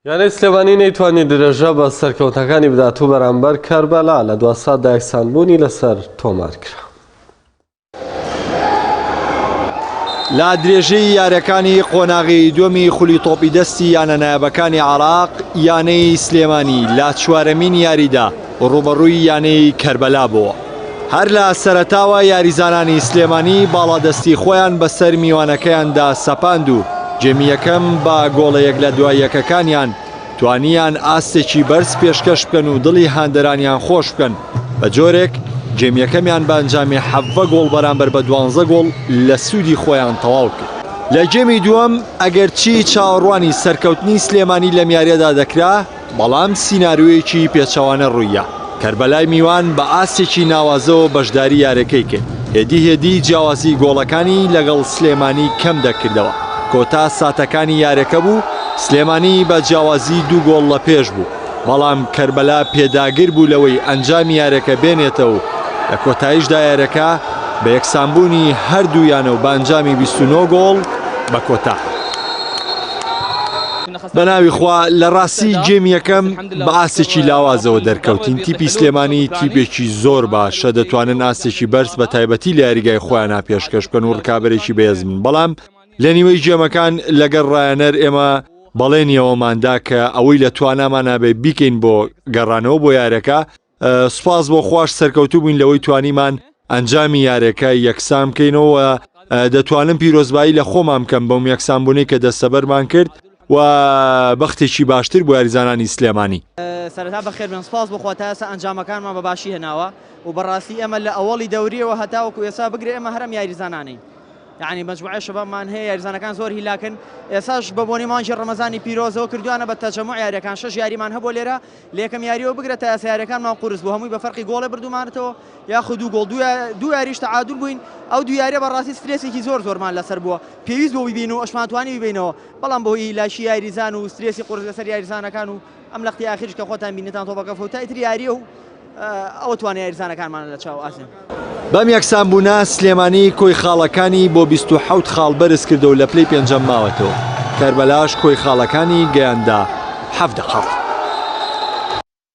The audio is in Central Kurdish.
یانەی سلێمانی نەیتوانی درێژە بە سەرکەوتنەکانی بدات و بەرامبەر کەربەلا لە دوا ساتدا یەکسانبوونی لەسەر تۆمار کرا. لە درێژەی یاریەکانی قۆناغی دووەمی خولی تۆپی دەستی یانە نایابەکانی عێراق یانەی سلێمانی لە چوارەمین یاریدا ڕووبەڕووی یانەی کەربەلا بووە، هەر لە سەرەتاوە یاریزانانی سلێمانی باڵادەستی خۆیان بەسەر میوانەکەیاندا سەپاند و جێمی یەکەم بە گۆڵە یەک لە دوای یەکەکانیان توانیان ئاستێکی بەرز پێشکەش بکەن و دڵی هاندەرانیان خۆش بکەن بە جۆرێک جێم یەکەمیان بە ئەنجامی حەڤە گۆڵ بەرامبەر بە دوانزە گۆڵ لە سوودی خۆیان تەواو کرد. لە گێمی دووەم ئەگەرچی چاوەڕوانی سەرکەوتنی سلێمانی لەم یاریەدا دەکرا، بەڵام سیناریۆیەکی پێچەوانە ڕووییە، کەربەلای میوان بە ئاستێکی ناوازەوە بەشداری یارەکەی کرد، هێدی هێدی جیاوازی گۆڵەکانی لەگەڵ سلێمانی کەم دەکردەوە، کۆتا ساتەکانی یارەکە بوو، سلێمانی بە جیاوازی دوو گۆڵ لە پێش بوو، بەڵام کەربەلا پێداگر بوو لەوەی ئەنجامی یارەکە بێنێتە و لە کۆتایشدا یارەکە بە یەکسانبوونی هەردوو یانە و بە ئەنجامی بیست و نۆ گۆڵ بە کۆتا هات. بەناوی خوا لەڕاستی گێم یەکەم بە ئاستێکی لاوازەوە دەرکەوتین تیپی سلێمانی تیپێکی زۆر باشە دەتوانن ئاستێکی بەرز بە تایبەتی لە یاریگای خۆیانە پێشکەش بکەن و ڕکابەرێکی بەێزمن بەڵام لە نیوەی گێمەکان لەگەر ڕایەنەر ئێمە بەڵێنیەوەماندا کە ئەوەی لە توانامانابێ بیکەین بۆ گەڕانەوە بۆ یارەکە سوپاس بۆ خواش سەرکەوتوو بووین لەوەی توانیمان ئەنجامی یارەکە یەکسان بکەینەوە دەتوانم پیرۆزبایی لە خۆمان بکەم بەم یەکسانبوونەی کە دەستەبەرمان کرد و بەختێکی باشتر بۆ یاریزانانی سلێمانی سەرتا بەخێر بێن سپاس بخوا تا ئێستا ئەنجامەکانمان بە باشی هێناوە و بەڕاستی ئێمە لە ئەوەڵی دەوریەوە هەتاوەکو ئێسا بگرێ ئێمە هەرم یاریزانانین یعنی مجموعە شەبابمان هەیە یاریزانەکان زۆر هیلاکن ئێساش بە بۆنی مانجی ڕەمەزانی پیرۆزەوە کردوانە بە تەجەمع یاریەکان شش یاریمان هەبوو لێرە لە یەکەم یارییەوە بگرە تا یاسا یارییەکانمان قورس بوو، هەمووی بە فەرقی گۆڵێ بردوومانەتەوە یاخود دوو گۆڵ، دوو یارییش تەعادول بووین، ئەو دوو یارییە بەڕاستی سترێسێکی زۆر زۆرمان لەسەر بووە، پێویست بوو بیبەین و ئەشمانتوانی بیبەینەوە، بەڵام بەهۆی لاشی یاریزان و سترێسی قورس لەسەر یاریزانەکان و ئەم لەقتی ئاخیریش کە خۆتان بینیتان تۆپەکە فەوتای تر یارییە و ئەوە توانای یاریزانەکانمانە لە چاو ئاسن. بەم یەکسانبوونە سلێمانی کۆی خاڵەکانی بۆ بیست و حەوت خاڵ بەرزکردەو لە پلەی پێنجەم ماوەتەوە، کەربەلاش کۆی خاڵەکانی گەیاندە حەڤدە خاڵ.